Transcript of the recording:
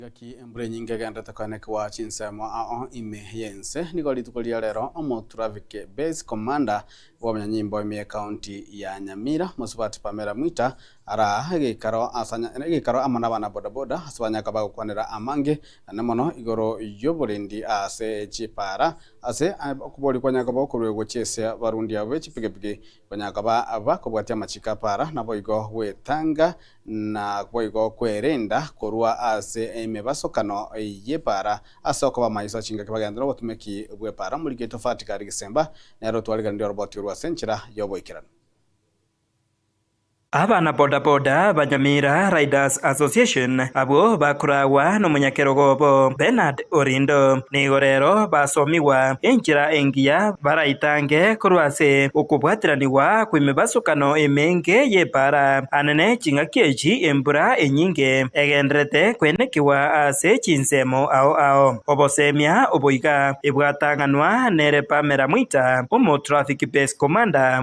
Gaki embura enyinge egendete koenekigwa chinsemo ao ime y'ense, nigo rituko riria rero Omotraffic Base Commander bw'obonyanyimbo ime y'Ekaunti ya Nyamira, Mosubati Pamela Mwita, araa egeikaro asa egeikaro amo nabana bodaboda ase banyaka bagokwanera amange ane mono igoro y'oborindi ase chipaara ase okobori kwanyaka gokoruegwa chi'esia barundi abo b'echipigipigi Konya koba abakobwatia amachiko aparaa, naboigo gwetanga, naboigo kwerenda korwa ase emebasokano y'epaara. Ase okoba amaiso achingaki bagenderere obotumeki bw'epaara, omoriketi ofatigare gesemba nere otwarigereria oroboti orwe ase enchera y'oboikeranu. Abana boda boda ba Nyamira Riders Association abwo bakoragwa nomonyakerogo obo Bernard Orindo nigo rero basomigwa enchera engiya baraitange korwa ase okobwatiranigwa kw'emebasokano emenge y'epaara ane ne ching'aki echi embura enyinge egendererete koenekigwa ase chinsemo ao ao obosemia oboiga ebwatang'anwa nere Pamela Mwita omo Traffic Base Commander